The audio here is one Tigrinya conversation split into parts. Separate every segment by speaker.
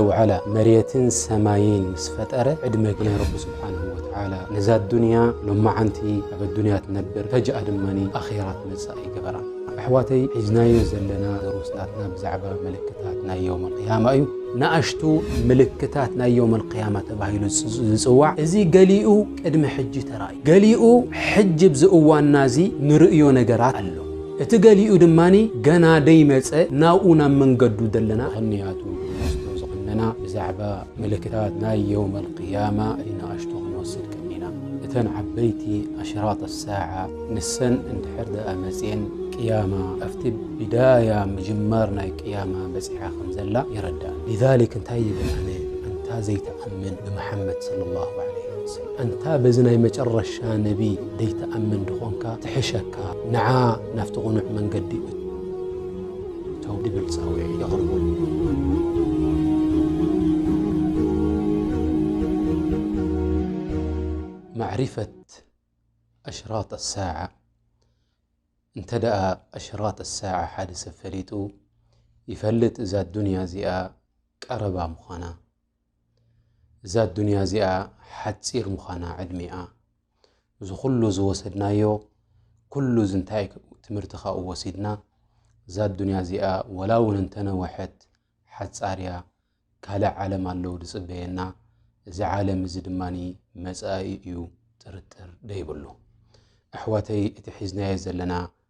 Speaker 1: እውዕላ መሬትን ሰማይን ምስ ፈጠረ ዕድመ ገይሩ ረቢ ስብሓነሁ ወተዓላ ነዛ ኣዱንያ ሎማዓንቲ ኣብ ኣዱንያ ትነብር ፈጅኣ ድማ ኣኼራ ትመጽእ ኣይገበራን። ኣሕዋተይ ሒዝናዮ ዘለና ድሩስ ናትና ብዛዕባ ምልክታት ናይ የውመል ቅያማ እዩ። ንኣሽቱ ምልክታት ናይ የውመል ቅያማ ተባሂሉ ዝጽዋዕ እዚ ገሊኡ ቅድሚ ሕጂ ተራእዩ ገሊኡ ሕጂ ኣብዚ እዋንና እዚ ንርእዮ ነገራት ኣሎ። እቲ ገሊኡ ድማ ገና ደይመጸ ናብኡ ናብ መንገዱ ደለና ኸንያቱ ንወስዶ ዝቐነና ብዛዕባ ምልክታት ናይ የውም ኣልቅያማ ንኣሽቱ ክንወስድ ቀኒና እተን ዓበይቲ ኣሽራጥ ኣሳዓ ንሰን እንድሕር ደኣ መጽየን ቅያማ ኣብቲ ብዳያ ምጅማር ናይ ቅያማ በጺሓ ከም ዘላ የረድኣና ሊዛሊክ እንታይ ይብል ኣነ ኣንታ ዘይትኣምን ንመሓመድ ሰለላሁ ዓለይሂ ኣንታ በዚ ናይ መጨረሻ ነቢ ደይትኣምን ድኾንካ ትሕሸካ ንዓ ናብቲ ቕኑዕ መንገዲ እቶ ድብል ጻውዒ የቕርቡ። ማዕሪፈት ኣሽራጥ ኣሳዓ እንተ ደኣ ኣሽራጥ ኣሳዓ ሓደ ሰብ ፈሊጡ ይፈልጥ እዛ ኣዱንያ እዚኣ ቀረባ ምዃና። እዛ ኣዱንያ እዚኣ ሓጺር ምዃና ዕድሜኣ እዚ ኩሉ ዝወሰድናዮ ኩሉ እዚ እንታይ ትምህርቲ ካብኡ ወሲድና እዛ ኣዱንያ እዚኣ ወላ እውን እንተነወሐት ሓጻርያ ካልእ ዓለም ኣለዉ ዝጽበየና እዚ ዓለም እዚ ድማ መጻኢ እዩ ጥርጥር ደይብሉ ኣሕዋተይ እቲ ሒዝናዮ ዘለና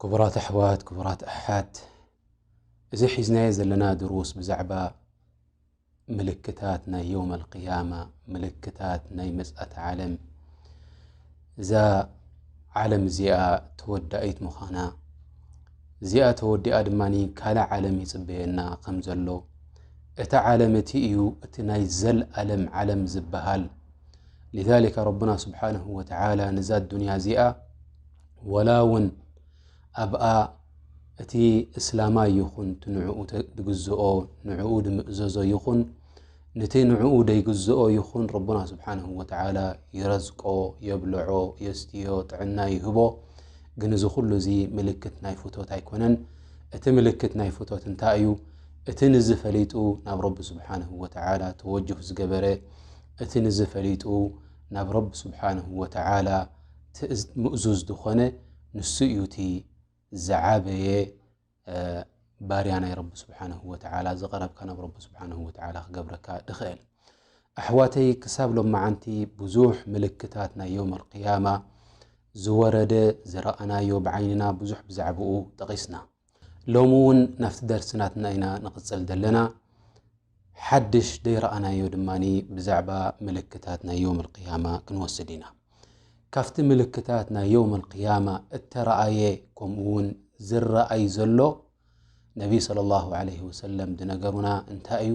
Speaker 1: ክቡራት ኣሕዋት ክቡራት ኣሓት እዚ ሒዝናዮ ዘለና ድሩስ ብዛዕባ ምልክታት ናይ ዮም ኣልቅያማ ምልክታት ናይ መፅእት ዓለም እዛ ዓለም እዚኣ ተወዳኢት ምዃና እዚኣ ተወዲኣ ድማ ካልእ ዓለም ይፅበየና ከም ዘሎ እቲ ዓለም እቲ እዩ እቲ ናይ ዘልኣለም ዓለም ዝበሃል ሊዛሊካ ረብና ስብሓንሁ ወተዓላ ንዛ ኣዱንያ እዚኣ ወላ ውን ኣብኣ እቲ እስላማይ ይኹን እቲ ንዕኡ ድግዝኦ ንዕኡ ድምእዘዞ ይኹን ንቲ ንዕኡ ደይግዝኦ ይኹን ረቡና ስብሓንሁ ወተዓላ ይረዝቆ የብልዖ የስትዮ ጥዕና ይህቦ ግን እዚ ኩሉ እዚ ምልክት ናይ ፍቶት ኣይኮነን እቲ ምልክት ናይ ፍቶት እንታይ እዩ እቲ ንዝ ፈሊጡ ናብ ረቢ ስብሓንሁ ወተዓላ ተወጅህ ዝገበረ እቲ ንዝ ፈሊጡ ናብ ረቢ ስብሓንሁ ወተዓላ ትእዝ ምእዙዝ ዝኾነ ንሱ እዩ እቲ ዝዓበየ ባርያ ናይ ረቢ ስብሓንሁ ወተዓላ ዝቐረብካ ናብ ረቢ ስብሓንሁ ወተዓላ ክገብረካ ድኽእል ኣሕዋተይ ክሳብ ሎም መዓንቲ ብዙሕ ምልክታት ናይ ዮም ኣልቅያማ ዝወረደ ዝረኣናዮ ብዓይንና ብዙሕ ብዛዕባኡ ጠቒስና ሎሚ ውን ናፍቲ ደርሲ ናትና ኢና ንቕጽል ዘለና ሓድሽ ደይረኣናዮ ድማ ብዛዕባ ምልክታት ናይ ዮም ልቅያማ ክንወስድ ኢና ካብቲ ምልክታት ናይ ዮም ልቅያማ እተረኣየ ከምኡ ውን ዝረኣይ ዘሎ ነቢይ صለ ላሁ ለ ወሰለም ዝነገሩና እንታይ እዩ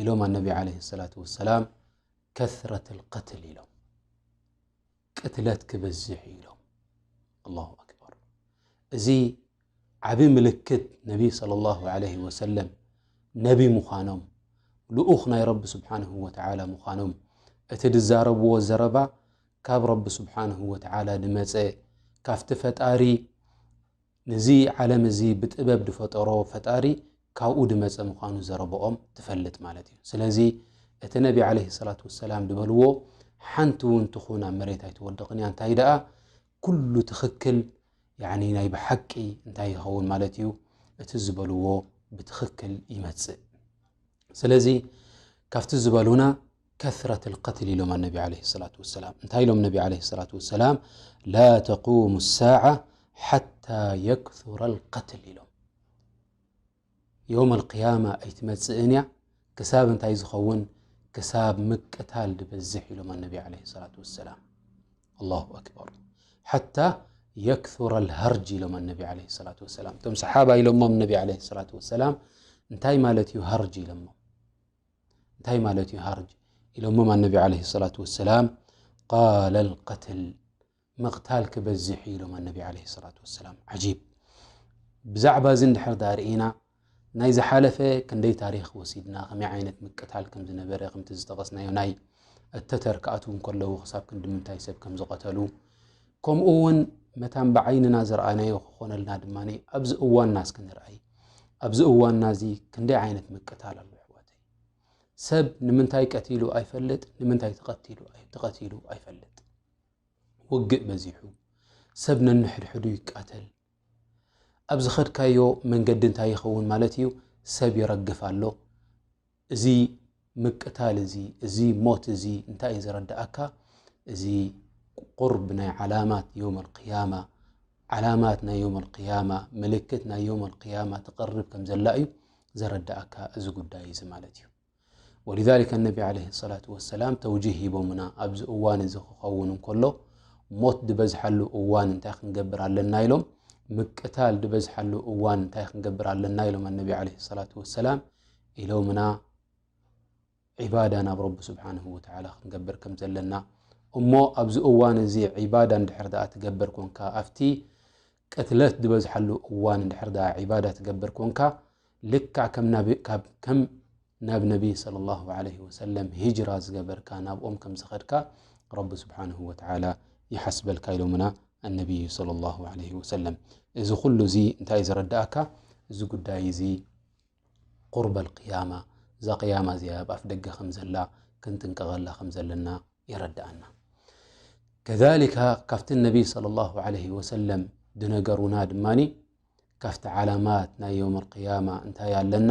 Speaker 1: ኢሎም ኣነቢ ለ ሰላት ወሰላም ከረት ልቀትል ኢሎም ቅትለት ክበዝሕ እዩ ኢሎም ኣላሁ ኣክበር እዚ ዓብ ምልክት ነቢ صለ ላሁ ለህ ወሰለም ነቢ ምዃኖም ልኡኽ ናይ ረቢ ስብሓንሁ ወተዓላ ምዃኖም እቲ ዝዛረብዎ ዘረባ ካብ ረቢ ስብሓንሁ ወተዓላ ዝመፀ ካብቲ ፈጣሪ ነዚ ዓለም እዚ ብጥበብ ድፈጠሮ ፈጣሪ ካብኡ ድመጸ ምዃኑ ዘረበኦም ትፈልጥ ማለት እዩ። ስለዚ እቲ ነቢ ዓለይሂ ሰላቱ ወሰላም ድበልዎ ሓንቲ እውን ትኹን ኣብ መሬት ኣይትወድቕን እያ እንታይ ደኣ ኩሉ ትኽክል ያኒ ናይ ብሓቂ እንታይ ይኸውን ማለት እዩ እቲ ዝበልዎ ብትኽክል ይመጽእ። ስለዚ ካብቲ ዝበሉና ከስረት ልቀትል ኢሎም ኣነቢ ዓለ ሰላት ወሰላም እንታይ ኢሎም ነቢ ዓለ ሰላት ወሰላም ላ ተቁሙ ሳዓ ሓታ የክሱራ ልቀትል ኢሎም ዮም ኣልቅያማ ኣይትመፅእን እያ ክሳብ እንታይ ዝኸውን ክሳብ ምቅታል ድበዝሕ ኢሎም ኣነቢ ዓለ ሰላት ወሰላም ኣላሁ ኣክበር ሓታ የክሱራ ልሃርጅ ኢሎም ኣነቢ ዓለ ሰላት ወሰላም እቶም ሰሓባ ኢሎሞም ነቢ ዓለ ሰላት ወሰላም እንታይ ማለት እዩ ሃርጅ ኢሎሞ እንታይ ማለት እዩ ሃርጅ ኢሎሞም ኣነቢ ዓለ ሰላት ወሰላም ቃል ልቀትል ምቕታል ክበዝሕ እዩ ኢሎም ኣነቢ ዓለ ሰላት ወሰላም ዓጂብ ብዛዕባ እዚ ንድሕር ዳ ርእና ናይ ዝሓለፈ ክንደይ ታሪክ ወሲድና ከመይ ዓይነት ምቅታል ከም ዝነበረ ከምቲ ዝጠቐስናዮ ናይ እተተር ክኣትው እንከለዉ ክሳብ ክንዲ ምንታይ ሰብ ከም ዝቐተሉ ከምኡ እውን መታን ብዓይንና ዝረኣናዮ ክኾነልና ድማ ኣብዚ እዋንና ስክንርኣይ ኣብዚ እዋንና እዚ ክንደይ ዓይነት ምቅታል ኣሎ ኣሕዋተይ። ሰብ ንምንታይ ቀቲሉ ኣይፈልጥ፣ ንምንታይ ተቐቲሉ ተቐቲሉ ኣይፈልጥ። ውግእ በዚሑ፣ ሰብ ነንሕድሕዱ ይቃተል። ኣብ ዝኸድካዮ መንገዲ እንታይ ይኸውን ማለት እዩ? ሰብ ይረግፍ ኣሎ፣ እዚ ምቅታል እዚ እዚ ሞት እዚ እንታይ እዩ ዘረድኣካ እዚ ቁርብ ናይ ዓላማት ዮም ኣልቅያማ ዓላማት ናይ ዮም ኣልቅያማ ምልክት ናይ ዮም ኣልቅያማ ትቕርብ ከም ዘላ እዩ ዘረድኣካ እዚ ጉዳይ እዚ ማለት እዩ ወልዛሊከ ነቢ ዓለ ሰላት ወሰላም ተውጅህ ሂቦምና ኣብዚ እዋን እዚ ክኸውን እንከሎ ሞት ዝበዝሓሉ እዋን እንታይ ክንገብር ኣለና ኢሎም ምቅታል ዝበዝሓሉ እዋን እንታይ ክንገብር ኣለና ኢሎም ኣነቢ ዓለ ሰላት ወሰላም ኢሎምና ዒባዳ ናብ ረቢ ስብሓን ወተላ ክንገብር ከም ዘለና እሞ ኣብዚ እዋን እዚ ዒባዳ እንድሕር ድኣ ትገብር ኮንካ ኣብቲ ቅትለት ዝበዝሓሉ እዋን እንድሕር ድኣ ዒባዳ ትገብር ኮንካ ልክዕ ከም ናብ ነቢይ ስለ ላ ለ ወሰለም ሂጅራ ዝገበርካ ናብኦም ከም ዝኸድካ ረቢ ስብሓን ወተላ ይሓስበልካ ኢሎምና ኣነቢይ ስለ ላ ለ ወሰለም እዚ ኩሉ እዚ እንታይ እዩ ዘረዳእካ እዚ ጉዳይ እዚ ቁርበ ኣልቅያማ እዛ ቅያማ እዚኣ ኣብ ኣፍ ደገ ከም ዘላ ክንጥንቀቐላ ከም ዘለና የረድኣና ከሊካ ካብቲ ነቢይ صለ ላሁ ለህ ወሰለም ድነገሩና ድማ ካብቲ ዓላማት ናይ ዮም ኣልቅያማ እንታይ ኣለና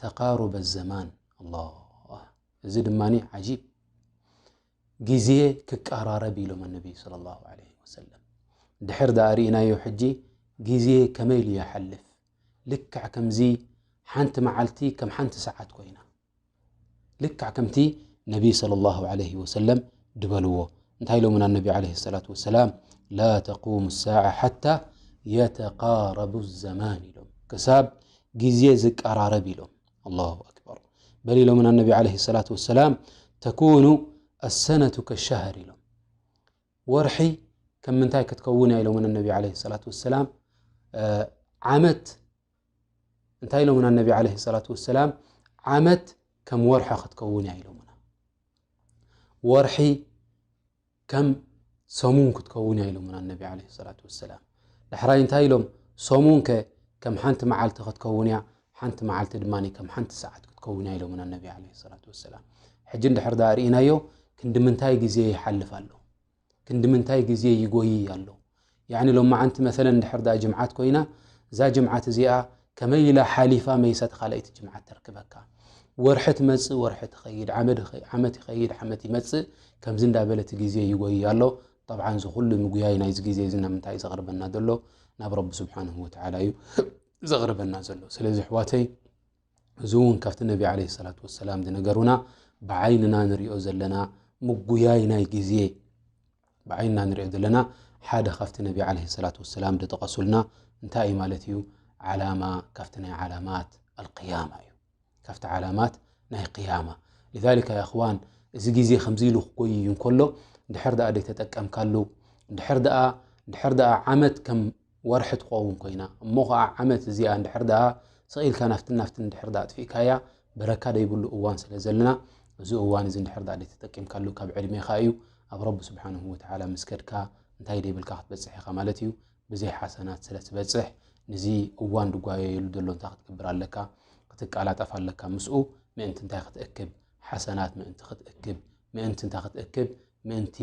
Speaker 1: ተቃሩበ ዘማን ኣላ እዚ ድማ ዓጂብ ግዜ ክቀራረብ ኢሎም ኣነቢይ ለ ላ ለ ወሰለም ድሕር ዳኣ ርእናዮ ሕጂ ግዜ ከመይ ኢሉ ይሓልፍ ልክዕ ከምዚ ሓንቲ መዓልቲ ከም ሓንቲ ሰዓት ኮይና ልክዕ ከምቲ ነቢ صለ ላሁ ዓለይህ ወሰለም ድበልዎ እንታይ ኢሎምና ኣነቢ ዓለ ሰላት ወሰላም ላ ተቁሙ ሳዓ ሓታ የተቃረቡ ዘማን ኢሎም ክሳብ ግዜ ዝቀራረብ ኢሎም ኣላሁ ኣክበር በል ኢሎምና ኣነቢ ዓለ ሰላት ወሰላም ተኩኑ ኣሰነቱ ከሻሃር ኢሎም ወርሒ ከም ምንታይ ክትከውን እያ ኢሎምን ኣነቢ ዓለ ሰላት ወሰላም ዓመት እንታይ ኢሎምን ኣነቢ ዓለ ሰላት ወሰላም ዓመት ከም ወርሒ ክትከውን እያ ኢሎምና ወርሒ ከም ሰሙን ክትከውን እያ ኢሎምን ኣነቢ ዓለ ሰላት ወሰላም ዳሕራይ እንታይ ኢሎም፣ ሰሙን ከ ከም ሓንቲ መዓልቲ ክትከውን እያ፣ ሓንቲ መዓልቲ ድማ ከም ሓንቲ ሰዓት ክትከውን እያ ኢሎምና ነቢ ዓለይሂ ሰላቱ ወሰላም። ሕጂ እንድሕር ደኣ ርኢናዮ ክንዲ ምንታይ ግዜ ይሓልፍ ኣሎ፣ ክንዲ ምንታይ ግዜ ይጎይይ ኣሎ። ያዕኒ ሎማዓንቲ መሰለን እንድሕር ደኣ ጅምዓት ኮይና እዛ ጅምዓት እዚኣ ከመይ ኢላ ሓሊፋ መይሳ እቲ ካልኣይቲ ጅምዓት ተርክበካ። ወርሒ ትመጽእ ወርሒ ትኸይድ፣ ዓመት ይኸይድ ዓመት ይመጽእ፣ ከምዚ እንዳበለ እቲ ግዜ ይጎይይ ኣሎ። ጠብዓን እዚ ኩሉ ምጉያይ ናይዚ ግዜ እዚ ናብ ምንታይ እዩ ዘቕርበና ዘሎ ናብ ረቢ ስብሓንሁ ወትዓላ እዩ ዘቕርበና ዘሎ ስለዚ ኣሕዋተይ እዚ እውን ካብቲ ነቢ ዓለ ሰላት ወሰላም ዝነገሩና ብዓይንና ንሪኦ ዘለና ምጉያይ ናይ ግዜ ብዓይንና ንሪኦ ዘለና ሓደ ካብቲ ነቢ ዓለ ሰላት ወሰላም ዝጠቐሱልና እንታይ እዩ ማለት እዩ ዓላማ ካብቲ ናይ ዓላማት ኣልቅያማ እዩ ካብቲ ዓላማት ናይ ቅያማ ሊዛሊካ የኽዋን እዚ ግዜ ከምዚ ኢሉ ክጎይ እዩ እንከሎ ድሕር ድኣ ደይተጠቀምካሉ ድሕር ድኣ ድሕር ድኣ ዓመት ከም ወርሒ ትኸውን ኮይና እሞ ከዓ ዓመት እዚኣ ድሕር ድኣ ስቂኢልካ ናፍትን ናፍትን ድሕር ድኣ ኣጥፊእካያ በረካ ደይብሉ እዋን ስለ ዘለና እዚ እዋን እዚ ድሕር ድኣ ደይተጠቂምካሉ ካብ ዕድሜኻ እዩ ኣብ ረቢ ስብሓንሁ ወተዓላ ምስ ከድካ እንታይ ደይብልካ ክትበፅሕ ኢኻ ማለት እዩ ብዘይ ሓሰናት ስለ ትበጽሕ ንዚ እዋን ድጓየየሉ ዘሎ እንታይ ክትገብር ኣለካ ክትቃላጠፍ ኣለካ ምስኡ ምእንቲ እንታይ ክትእክብ ሓሰናት ምእንቲ ክትእክብ ምእንቲ እንታይ ክትእክብ ምእንቲ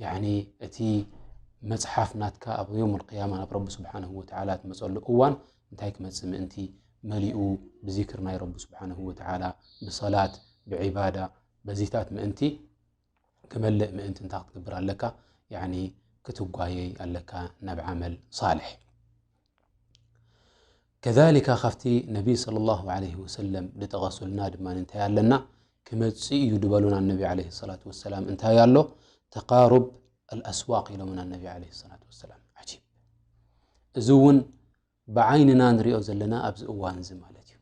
Speaker 1: ያኒ እቲ መጽሓፍ ናትካ ኣብ ዮም ልቅያማ ናብ ረቢ ስብሓንሁ ወተዓላ ትመፀሉ እዋን እንታይ ክመፅእ ምእንቲ መሊኡ ብዚክር ናይ ረቢ ስብሓንሁ ወተዓላ ብሰላት ብዒባዳ በዚታት ምእንቲ ክመልእ ምእንቲ እንታይ ክትገብር ኣለካ ያኒ ክትጓየይ ኣለካ ናብ ዓመል ሳልሕ ከሊካ ካብቲ ነቢ ስለ ላሁ ለ ወሰለም ዝጠቐሱልና ድማ እንታይ ኣለና ክመፅእ እዩ ዝበሉና ነቢ ለ ሰላት ወሰላም እንታይ ኣሎ ተቃሩብ ኣልኣስዋቅ ኢሎምና ነቢ ለ ሰላት ወሰላም ዓጂብ እዚ እውን ብዓይንና ንሪኦ ዘለና ኣብዚ እዋን እዚ ማለት እዩ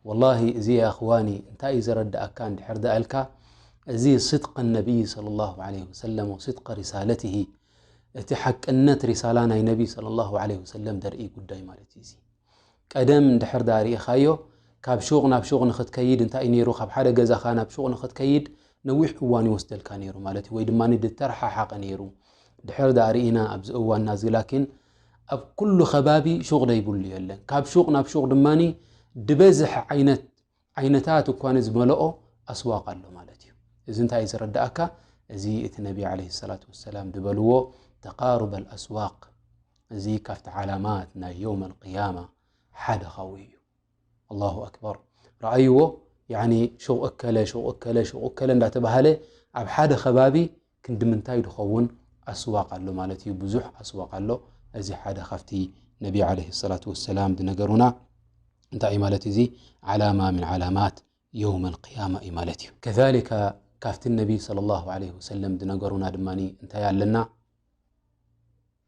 Speaker 1: ወላሂ እዚ ኣኽዋኒ እንታይ እዩ ዘረዳእካ እንድሕር ዳኣልካ እዚ ስድቀ ነቢይ ለ ላ ለ ወሰለም ወስድቀ ሪሳለትሂ እቲ ሓቅነት ሪሳላ ናይ ነቢ صለ ላሁ ለ ወሰለም ደርኢ ጉዳይ ማለት እዩ እዙ ቀደም እንድሕር ዳ ርእኻዮ ካብ ሹቕ ናብ ሹቕ ንኽትከይድ እንታይ እዩ ነይሩ ካብ ሓደ ገዛኻ ናብ ሹቕ ንኽትከይድ ነዊሕ እዋን ይወስደልካ ነይሩ ማለት እዩ ወይ ድማ ድተረሓሓቐ ነይሩ ድሕር ዳርእና ኣብዚ እዋና ዝላኪን ኣብ ኩሉ ከባቢ ሹቕ ዘይብሉ የለን። ካብ ሹቕ ናብ ሹቕ ድማ ድበዝሕ ዓይነት ዓይነታት እኳ ዝመልኦ ኣስዋቅ ኣሎ ማለት እዩ። እዚ እንታይ እዩ ዘረዳእካ? እዚ እቲ ነቢ ዓለይሂ ሰላቱ ወሰላም ዝበልዎ ተቃሩብ ኣልኣስዋቅ እዚ ካብቲ ዓላማት ናይ የውም ኣልቅያማ ሓደ ኻብኡ እዩ። ኣላሁ ኣክበር ረኣይዎ ያኒ ሹቕ እከለ ሹቕ እከለ ሹቕ እከለ እንዳተባሃለ ኣብ ሓደ ከባቢ ክንዲምንታይ ድኸውን ኣስዋቕ ኣሎ ማለት እዩ ብዙሕ ኣስዋቕ ኣሎ እዚ ሓደ ካብቲ ነቢ ዓለይሂ ሰላቱ ወሰላም ዝነገሩና እንታይ እዩ ማለት እዚ ዓላማ ምን ዓላማት የውም ኣልቅያማ እዩ ማለት እዩ ከሊካ ካብቲ ነቢ ስለ ላሁ ዓለይሂ ወሰለም ዝነገሩና ድማ እንታይ ኣለና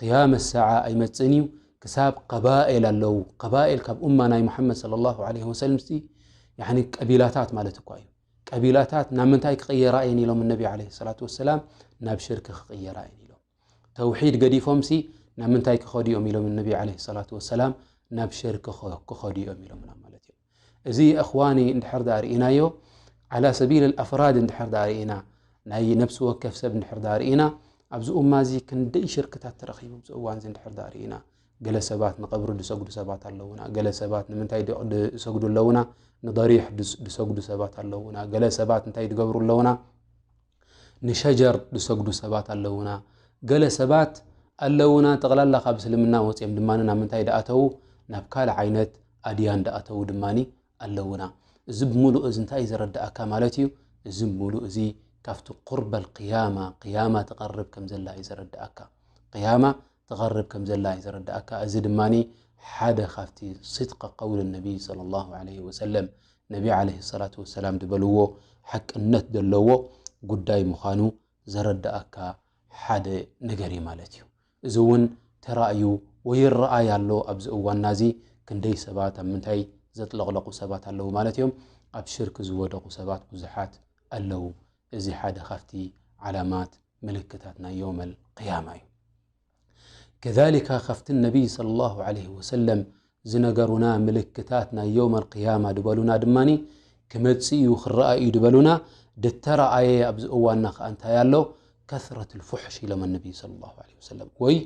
Speaker 1: ቅያመት ሰዓ ኣይመጽእን እዩ ክሳብ ቀባኤል ኣለው ቀባኤል ካብ እማ ናይ መሓመድ ለ ላ ለ ወሰለም ቀቢላታት ማለት እኳ እዩ ቀቢላታት ናብ ምንታይ ክቕየራ እየን ኢሎም እነቢ ለ ሰላት ወሰላም ናብ ሽርክ ክቕየራ እየን ኢሎም ተውሒድ ገዲፎም ሲ ናብ ምንታይ ክኸዱ እዮም ኢሎም እነቢ ለ ሰላት ወሰላም ናብ ሽርክ ክኸዱ እዮም ኢሎምና ማለት እዮም እዚ የእኽዋኒ እንድሕር ድኣ ርኢናዮ ዓላ ሰቢል ኣፍራድ እንድሕር ድኣ ርኢና ናይ ነብሲ ወከፍ ሰብ እንድሕር ድኣ ርኢና ኣብዚ እማ እዚ ክንደይ ሽርክታት ተረኺቡ ኣብዚ እዋን እዚ እንድሕር ድኣ ርኢና ገለ ሰባት ንቐብሪ ዝሰግዱ ሰባት ኣለውና ገለ ሰባት ንምንታይ ዝሰግዱ ኣለውና ንደሪሕ ዝሰግዱ ሰባት ኣለውና ገለ ሰባት እንታይ ዝገብሩ ኣለውና ንሸጀር ዝሰግዱ ሰባት ኣለዉና ገለ ሰባት ኣለዉና ጠቕላላ ካብ እስልምና ወፅኦም ድማ ናብ ምንታይ ድኣተዉ ናብ ካልእ ዓይነት ኣድያን ድኣተዉ ድማ ኣለዉና እዚ ብምሉእ እዚ እንታይ እዩ ዘረድኣካ ማለት እዩ እዚ ምሉእ እዚ ካብቲ ቁርበል ቅያማ ቅያማ ትቐርብ ከም ዘላ እዩ ዘረድኣካ ቅያማ ትቐርብ ከም ዘላ እዩ ዘረድኣካ እዚ ድማ ሓደ ካብቲ ስድቂ ቀውል ነቢይ ለ ላ ለ ወሰለም ነቢ ዓለይሂ ሰላቱ ወሰላም ዝበልዎ ሓቅነት ዘለዎ ጉዳይ ምዃኑ ዘረድኣካ ሓደ ነገር እዩ ማለት እዩ። እዚ እውን ተራእዩ ወይ ይረኣይ ኣሎ ኣብዚ እዋንና እዚ ክንደይ ሰባት ኣብ ምንታይ ዘጥለቕለቑ ሰባት ኣለዉ ማለት እዮም። ኣብ ሽርክ ዝወደቑ ሰባት ብዙሓት ኣለዉ። እዚ ሓደ ካብቲ ዓላማት ምልክታት ናይ የውመል ቅያማ እዩ። ከዛሊካ ካብቲ ነቢይ ሰለላሁ ዓለይሂ ወሰለም ዝነገሩና ምልክታት ናይ የውም ኣልቅያማ ድበሉና ድማ ክመፅእ እዩ ክረኣ እዩ ድበሉና ድተረኣየ ኣብዚ እዋንና ከዓ እንታይ ኣሎ ከስረት ልፉሕሽ ኢሎም ነቢይ ሰለላሁ ዓለይሂ ወሰለም ወይ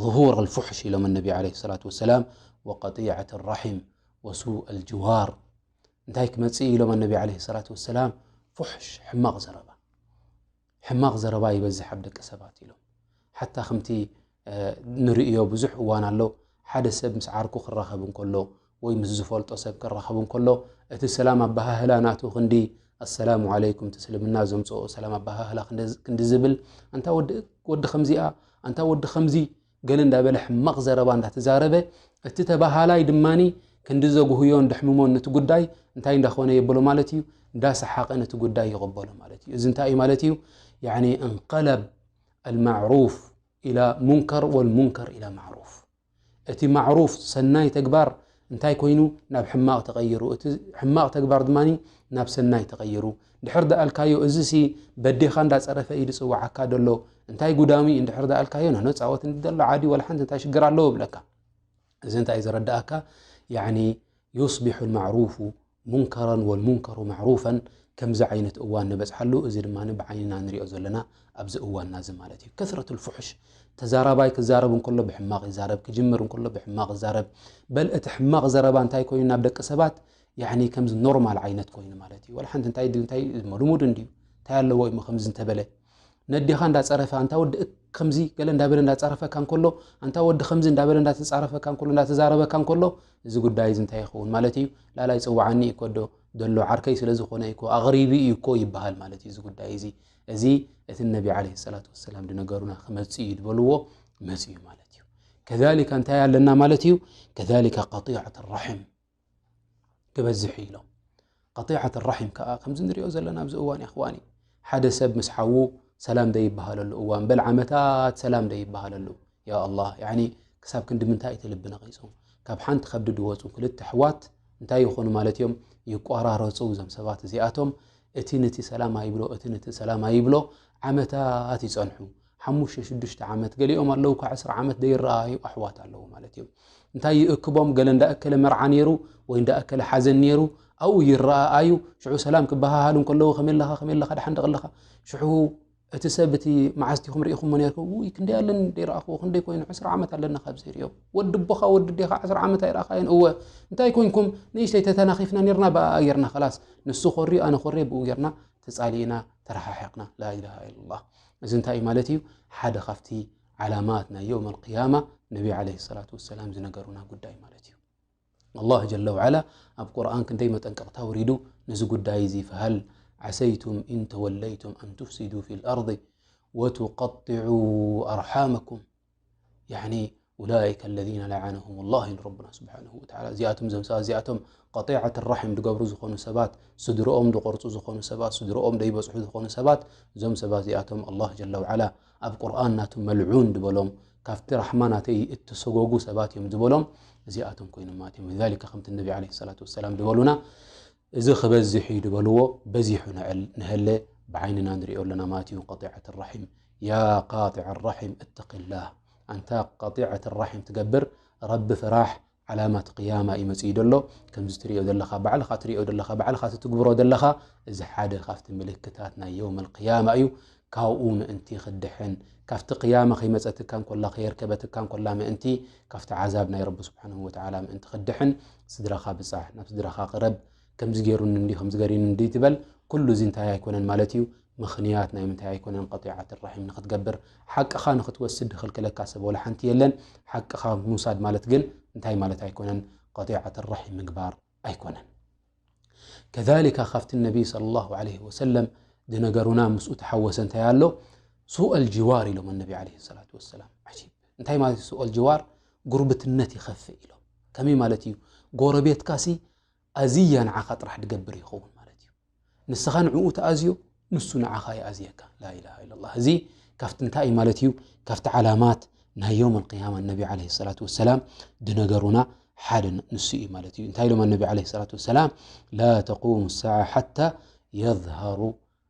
Speaker 1: ظሁር ልፉሕሽ ኢሎም ነቢ ዓለይሂ ሰላቱ ወሰላም ወቀጢዐት ራሒም ወሱእ ኣልጅዋር እንታይ ክመፅእ ኢሎም ኣነቢ ለ ሰላት ወሰላም ፉሕሽ ሕማቕ ዘረባ ሕማቕ ዘረባ ይበዝሕ ኣብ ደቂ ሰባት ኢሎም ሓታ ከምቲ ንርእዮ ብዙሕ እዋን ኣሎ ሓደ ሰብ ምስ ዓርኩ ክራኸብ እንከሎ ወይ ምስ ዝፈልጦ ሰብ ክራኸብ እንከሎ እቲ ሰላም ኣበሃህላ ናቱ ክንዲ ኣሰላሙ ዓለይኩም እቲ እስልምና ዘምፅኦ ሰላም ኣበሃህላ ክንዲ ዝብል ኣንታ ወዲ ከምዚኣ ኣንታ ወዲ ከምዚ ገለ እንዳበለ ሕማቕ ዘረባ እንዳተዛረበ፣ እቲ ተባሃላይ ድማ ክንዲ ዘጉህዮን ደሕምሞን ነቲ ጉዳይ እንታይ እንዳኾነ የብሎ ማለት እዩ፣ እንዳሰሓቐ ነቲ ጉዳይ ይቕበሎ ማለት እዩ። እዚ እንታይ እዩ ማለት እዩ? ያዕኒ እንቀለብ ኣልማዕሩፍ ኢላ ሙንከር ወልሙንከር ኢላ ማዕሩፍ። እቲ ማዕሩፍ ሰናይ ተግባር እንታይ ኮይኑ ናብ ሕማቕ ተቐይሩ፣ እቲ ሕማቕ ተግባር ድማ ናብ ሰናይ ተቐይሩ። ድሕር ዳኣልካዮ እዚ ሲ በዴካ እንዳ ጸረፈ እዩ ዝጽዋዓካ ደሎ እንታይ ጉዳሚ እዩ ድሕር ዳኣልካዮ ንሕነ ጻወት ንደሎ ዓዲ ወላ ሓንቲ እንታይ ሽግር ኣለዎ ይብለካ እዚ እንታይ ዘረዳኣካ ያኒ ዩስቢሑ ልማዕሩፉ ሙንከረን ወልሙንከሩ ማዕሩፈን ከምዚ ዓይነት እዋን ንበጽሓሉ እዚ ድማ ብዓይንና ንሪኦ ዘለና ኣብዚ እዋንና እዚ ማለት እዩ ከስረት ልፍሑሽ ተዛራባይ ክዛረብ እንከሎ ብሕማቕ ይዛረብ ክጅምር እንከሎ ብሕማቕ ይዛረብ በል እቲ ሕማቕ ዘረባ እንታይ ኮይኑ ናብ ደቂ ሰባት ያኒ ከምዚ ኖርማል ዓይነት ኮይኑ ማለት እዩ ወላ ሓንቲ እንታይ ድዩ እንታይ ልሙድ እንድዩ እንታይ ኣለዎ እሞ ከምዚ እንተበለ ነዴኻ እንዳፀረፈ ኣንታ ወዲ ከምዚ ገለ እንዳበለ እንዳፀረፈካ እንከሎ ኣንታ ወዲ ከምዚ እንዳበለ እንዳተፃረፈካ እንከሎ እንዳተዛረበካ እንከሎ እዚ ጉዳይ እዚ እንታይ ይኸውን ማለት እዩ ላላይ ፅዋዓኒ እዩ ኮዶ ደሎ ዓርከይ ስለ ዝኾነ እኮ ኣቕሪቢ እዩ እኮ ይበሃል ማለት እዩ እዚ ጉዳይ እዚ እዚ እቲ ነቢ ዓለ ሰላት ወሰላም ድነገሩና ክመፅ እዩ ዝበልዎ መፅ እዩ ማለት እዩ ከሊካ እንታይ ኣለና ማለት እዩ ከሊካ ቀጢዓት ራሕም ክበዝሕ እዩ ኢሎም ቀጢዓት ራሒም ከዓ ከምዚ ንሪኦ ዘለና ኣብዚ እዋን ይኽዋኒ ሓደ ሰብ ምስ ሓዉ ሰላም ዘይበሃለሉ እዋን በል ዓመታት ሰላም ዘይበሃለሉ ያ ኣላ ክሳብ ክንዲ ምንታይ እቲ ልቢ ነቒጹ ካብ ሓንቲ ከብዲ ድወፁ ክልተ ኣሕዋት እንታይ ይኾኑ ማለት እዮም ይቋራረፁ እዞም ሰባት እዚኣቶም እቲ ነቲ ሰላም ኣይብሎ እቲ ነቲ ሰላም ኣይብሎ ዓመታት ይፀንሑ ሓሙሽተ ሽዱሽተ ዓመት ገሊኦም ኣለዉ ካብ ዕስራ ዓመት ዘይረኣዩ ኣሕዋት ኣለዉ ማለት እዮም እንታይ ይእክቦም ገለ እንዳእከለ መርዓ ነይሩ ወይ እንዳእከለ ሓዘን ነይሩ ኣብኡ ይረኣኣዩ ሽዑ ሰላም ክበሃሃሉ ከለዉ ከመይ ኣለኻ ከመይ ኣለኻ ድሓን ደቕ ኣለኻ ሽዑ እቲ ሰብ እቲ መዓዝቲኹም ርኢኹም ነርኩ ውይ ክንደይ ኣለን ደይረኣኽዎ ክንደይ ኮይኑ ዕስራ ዓመት ኣለና ካብ ዘይርዮ ወዲ ቦኻ ወዲ ዴኻ ዕስራ ዓመት ኣይረኣኻየን እወ እንታይ ኮንኩም ንእሽተይ ተተናኺፍና ነርና ብኣ ጌርና ከላስ ንሱ ኮርዩ ኣነ ኮርየ ብኡ ጌርና ተፃሊእና ተረሓሒቕና ላኢላሃ ኢለላህ እዚ እንታይ እዩ ማለት እዩ ሓደ ካብቲ ዓላማት ናይ ዮም ኣልቅያማ ነቢ ዓለ ሰላት ወሰላም ዝነገሩና ጉዳይ ማለት እዩ ኣላህ ጀለ ውዓላ ኣብ ቁርን ክንደይ መጠንቀቕታ ውሪዱ ነዚ ጉዳይ እዚ ፍሃል ዓሰይቱም ኢንተወለይቱም ኣንትፍሲዱ ፊ ልኣርض ወትቀጢዑ ኣርሓመኩም ላይከ ለذ ለዓነሁም ላ ኢሉ ረና ስብሓ እዚኣቶም ዘም ሰባት እዚኣቶም ጢዓት ራሒም ድገብሩ ዝኾኑ ሰባት ስድርኦም ድቆርፁ ዝኾኑ ሰባት ስድርኦም ደይበፅሑ ዝኾኑ ሰባት እዞም ሰባት እዚኣቶም ኣላ ጀለ ዓላ ኣብ ቁርን ናቱ መልዑን ድበሎም ካብቲ ራሕማ ናተይ እተሰጎጉ ሰባት እዮም ዝበሎም እዚኣቶም ኮይኖም ማለት እዮም ሊ ከምቲ ነቢ ለ ሰላ ሰላም ድበሉና እዚ ክበዝሕ ዩ ድበልዎ በዚሑ ንል ንሀለ ብዓይንና ንሪኦ ኣለና ማለት እዩ ጢዓት ራሒም ያ ቃጢዐ ኣራሒም እተቂላህ ኣንታ ቀጢዐት ራሒም ትገብር ረቢ ፍራሕ ዓላማት ቅያማ እዩ መጺኡ ዘሎ ከምዚ ትሪኦ ዘለኻ ባዕልኻ ትሪኦ ዘለኻ ባዕልኻ ትትግብሮ ዘለኻ እዚ ሓደ ካብቲ ምልክታት ናይ የውም ቅያማ እዩ ካብኡ ምእንቲ ክድሕን ካብቲ ቅያማ ከይመፀትካ እንኮላ ከየርከበትካ እንኮላ ምእንቲ ካብቲ ዓዛብ ናይ ረቢ ስብሓን ወተዓላ ምእንቲ ክድሕን ስድራኻ ብፃሕ ናብ ስድራኻ ቅረብ ከምዚ ገይሩኒ እንዲ ከምዚ ገሪኒ እንዲ ትበል ኩሉ እዚ እንታይ ኣይኮነን ማለት እዩ ምኽንያት ናይ ምንታይ ኣይኮነን ቀጢዓት ራሒም ንኽትገብር ሓቅኻ ንኽትወስድ ድኽልክለካ ሰብ ወላ ሓንቲ የለን ሓቅኻ ምውሳድ ማለት ግን እንታይ ማለት ኣይኮነን ቀጢዓት ራሒም ምግባር ኣይኮነን ከሊካ ካብቲ ነቢይ صለ ላሁ ለ ወሰለም ዝነገሩና ምስኡ ተሓወሰ እንታይ ኣሎ ሱኦል ጅዋር ኢሎም ኣነቢ ለ ሰላት ወሰላም ዓጂብ እንታይ ማለት እዩ ሱኦል ጅዋር ጉርብትነት ይኸፍእ ኢሎም ከመይ ማለት እዩ ጎረቤትካሲ ኣዚያ ንዓኻ ጥራሕ ድገብር ይኸውን ማለት እዩ። ንስኻ ንዕኡ ትኣዝዮ ንሱ ንዓኻ ይኣዝየካ ላኢላሃ ኢለላህ እዚ ካብቲ እንታይ እዩ ማለት እዩ ካብቲ ዓላማት ናይ ዮም ኣልቅያማ ነቢ ዓለይሂ ሰላቱ ወሰላም ድነገሩና ሓደ ንሱ እዩ ማለት እዩ እንታይ ኢሎም ኣነቢ ዓለይሂ ሰላቱ ወሰላም ላ ተቁሙ ሳዓ ሓታ የዝሃሩ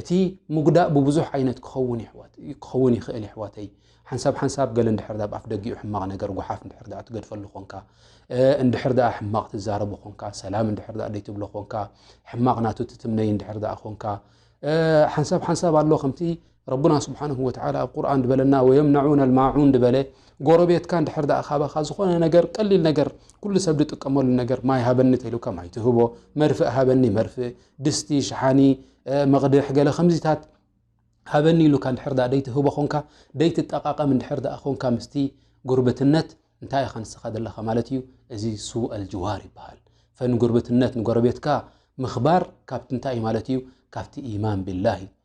Speaker 1: እቲ ምጉዳእ ብብዙሕ ዓይነት ክኸውን ይሕዋት ክኸውን ይኽእል ይሕዋተይ ሓንሳብ ሓንሳብ ገለ እንድሕር ኣብ ኣፍ ደጊኡ ሕማቕ ነገር ጉሓፍ እንድሕር ደኣ ትገድፈሉ ኾንካ እንድሕር ደኣ ሕማቕ ትዛረቡ ኾንካ ሰላም እንድሕር ደኣ ደይትብሎ ኾንካ ሕማቕ ናቱ ትትምነይ እንድሕር ደኣ ኾንካ ሓንሳብ ሓንሳብ ኣሎ ከምቲ ረቡና ስብሓንሁ ወተዓላ ኣብ ቁርኣን ድበለና ወየምናዑን ኣልማዑን ድበለ ጎረቤትካ እንድሕር ደኣ ካባኻ ዝኾነ ነገር ቀሊል ነገር ኩሉ ሰብ ዝጥቀመሉ ነገር ማይ ሃበኒ ተኢሉካ ማይ ትህቦ መርፍእ ሃበኒ መርፍእ ድስቲ ሸሓኒ መቕድሕ ገለ ከምዚታት ሃበኒ ኢሉካ እንድሕር ድኣ ደይትህቦ ኾንካ ደይትጠቓቐም እንድሕር ድኣ ኾንካ ምስቲ ጉርብትነት እንታይ ኢኻ ንስኻ ዘለኻ ማለት እዩ እዚ ሱኣል ጅዋር ይበሃል ፈን ጉርብትነት ንጎረቤትካ ምኽባር ካብቲ እንታይ እዩ ማለት እዩ ካብቲ ኢማን ቢላህ እዩ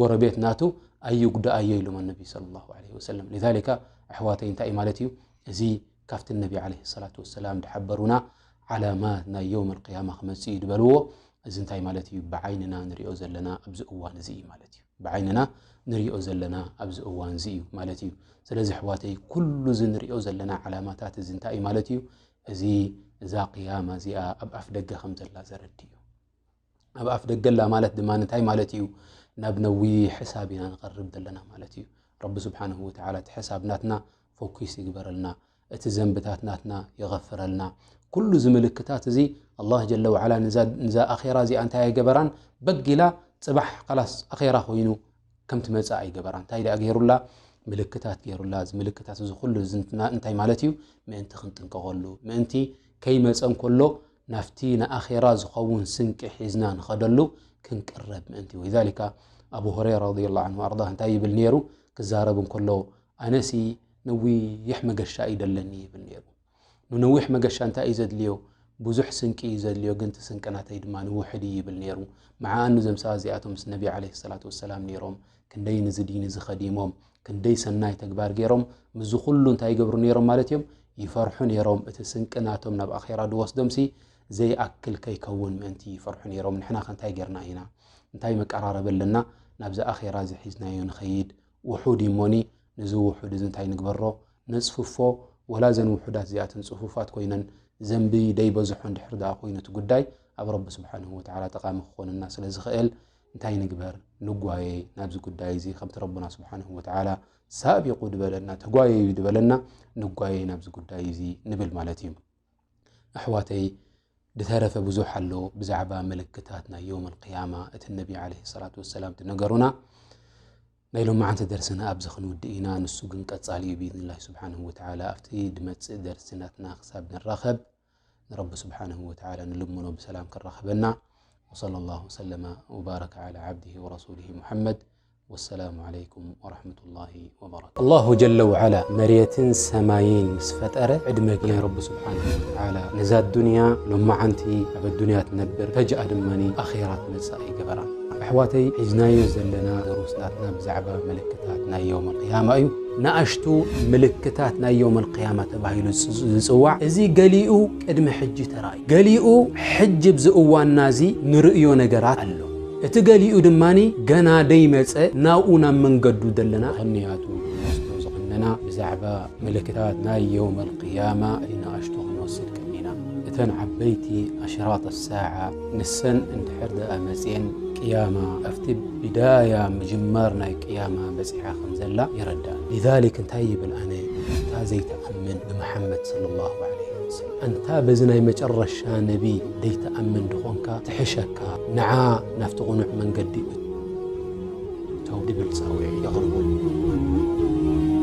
Speaker 1: ጎረቤት ናቱ ኣይጉዳኣዮ ኢሎም ኣነቢ ሰለላሁ ዓለይሂ ወሰለም ሊዛሊካ ኣሕዋተይ እንታይ እዩ ማለት እዩ እዚ ካብቲ እነቢ ዓለይሂ ሰላቱ ወሰላም ዝሓበሩና ዓላማት ናይ የውም ኣልቅያማ ክመጽእ እዩ ዝበልዎ እዚ እንታይ ማለት እዩ ብዓይንና ንሪኦ ዘለና ኣብዚ እዋን እዚ እዩ ማለት እዩ ብዓይንና ንሪኦ ዘለና ኣብዚ እዋን እዚ እዩ ማለት እዩ ስለዚ ኣሕዋተይ ኩሉ እዚ ንሪኦ ዘለና ዓላማታት እዚ እንታይ እዩ ማለት እዩ እዚ እዛ ቅያማ እዚኣ ኣብ ኣፍ ደገ ከም ዘላ ዘረድእ እዩ ኣብ ኣፍ ደገላ ማለት ድማ እንታይ ማለት እዩ ናብ ነዊሕ ሕሳብ ኢና ንቐርብ ዘለና ማለት እዩ ረቢ ስብሓን ወተላ እቲ ሕሳብ ናትና ፎኪስ ይግበረልና እቲ ዘንብታት ናትና ይቐፍረልና ኩሉ ዚ ምልክታት እዚ ኣላ ጀለ ዋዓላ ንዛ ኣኼራ እዚኣ እንታይ ኣይገበራን በጊላ ፅባሕ ካላስ ኣኼራ ኮይኑ ከምቲ መፃ ኣይገበራ እንታይ ደኣ ገይሩላ ምልክታት ገይሩላ እዚ ምልክታት እዚ ኩሉ እንታይ ማለት እዩ ምእንቲ ክንጥንቀቐሉ ምእንቲ ከይመፀ እንከሎ ናፍቲ ንኣኼራ ዝኸውን ስንቂ ሒዝና ንኸደሉ ክንቅረብ ምእንቲ ወይ ዛሊካ ኣብ ሁረይራ ረዲ ላ ን ኣርዳ እንታይ ይብል ነይሩ ክዛረብ እንከሎ ኣነሲ ነዊሕ መገሻ እይደለኒ ይብል ነይሩ ንነዊሕ መገሻ እንታይ እዩ ዘድልዮ? ብዙሕ ስንቂ እዩ ዘድልዮ፣ ግን እቲ ስንቂ ናተይ ድማ ውሑድ እዩ ይብል ነይሩ። መዓኣኑ እዞም ሰባት እዚኣቶም ምስ ነቢ ዓለይሂ ሰላቱ ወሰላም ነይሮም፣ ክንደይ ንዚ ዲን እዚ ኸዲሞም፣ ክንደይ ሰናይ ተግባር ገይሮም፣ ምስዚ ኹሉ እንታይ ይገብሩ ነይሮም ማለት እዮም? ይፈርሑ ነይሮም፣ እቲ ስንቂ ናቶም ናብ ኣኼራ ዝወስዶምሲ ዘይኣክል ከይከውን ምእንቲ ይፈርሑ ነይሮም። ንሕናኸ እንታይ ገይርና ኢና? እንታይ መቀራረቢ ኣለና? ናብዚ ኣኼራ እዚ ሒዝናዮ ንኸይድ፣ ውሑድ እዩ እሞኒ፣ ነዚ ውሑድ እዚ እንታይ ንግበሮ ነጽፍፎ ወላ እዘን ውሑዳት እዚኣተን ጽፉፋት ኮይነን ዘንቢ ደይበዝሖ እንድሕር ደኣ ኮይኑ እቲ ጉዳይ ኣብ ረቢ ስብሓንሁ ወተዓላ ጠቓሚ ክኾነና ስለ ዝኽእል እንታይ ንግበር ንጓየ ናብዚ ጉዳይ እዚ ከምቲ ረቡና ስብሓንሁ ወተዓላ ሳቢቑ ድበለና ተጓየዩ ድበለና ንጓየ ናብዚ ጉዳይ እዚ ንብል ማለት እዩ ኣሕዋተይ ብተረፈ ብዙሕ ኣሎ ብዛዕባ ምልክታት ናይ ዮም ልቅያማ እቲ ነቢ ለ ሰላት ወሰላም ትነገሩና ናይ ሎም መዓንቲ ደርስና ኣብዚ ክንውዲ ኢና ንሱ ግን ቀፃሊ እዩ ብኢድንላ ስብሓን ወተላ ኣብቲ ድመፅእ ደርስናትና ክሳብ ንራኸብ ንረቢ ስብሓን ወተላ ንልምኖ ብሰላም ክራኸበና ወለ ላ ሰለማ ወባረከ ዓላ ዓብድ ወረሱሊ ሙሓመድ ወሰላሙ ዓለይኩም ወረሕመቱላሂ ወበረካቱ። ኣላሁ ጀለ ውዓላ መሬትን ሰማይን ምስ ፈጠረ ዕድመ ናይ ረቢ ስብሓነሁ ወተዓላ ነዛ ኣዱንያ ሎማዓንቲ ኣብ ኣዱንያ ትነብር ፈጅኣ ድማ ኣኼራ ትመጽእ ኣይገበራን። ኣሕዋተይ ሒዝናዮ ዘለና ደሩስ ናትና ብዛዕባ ምልክታት ናይ የውመል ቅያማ እዩ። ንኣሽቱ ምልክታት ናይ የውመል ቅያማ ተባሂሉ ዝጽዋዕ እዚ ገሊኡ ቅድሚ ሕጂ ተራእዩ ገሊኡ ሕጂ ኣብዚ እዋንና እዚ ንርእዮ ነገራት ኣሎ። እቲ ገሊኡ ድማ ገና ደይመጸ ናብኡ ናብ መንገዱ ደለና ክንያቱ ንወስዶ ዝኽነና ብዛዕባ ምልክታት ናይ የውመል ቅያማ ንኣሽቱ ክንወስድ ቀኒና እተን ዓበይቲ ኣሽራጥ ሳዓ ንሰን እንድሕር ደኣ መጽየን ቅያማ ኣብቲ ብዳያ ምጅማር ናይ ቅያማ በጺሓ ከም ዘላ ይረዳእ ሊዛሊክ እንታይ ይብል ኣነ እታ ዘይትኣምን ብመሓመድ ሰለላሁ ዓለይሂ ኣንታ በዚ ናይ መጨረሻ ነቢ ደይትኣምን ድኾንካ ትሕሸካ ንዓ ናብቲ ቕኑዕ መንገዲ እቶ ድብል ጻውዒት የቕርቡ።